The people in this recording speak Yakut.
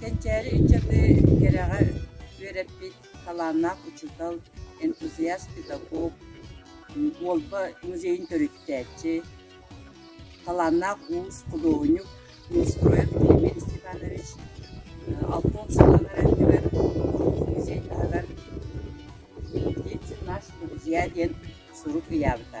Кэнчээри ыччаты кэрэҕэ үөрэппит талааннаах учуутал, энтузиаст педагог, Уолба музейын төрүттээччи, талааннаах уус худуоһунньук Минстроев Климент Степанович алтон сылланар өттүгэр музей таһыгар «Птицы наши друзья» диэн сурук ыйаабыта.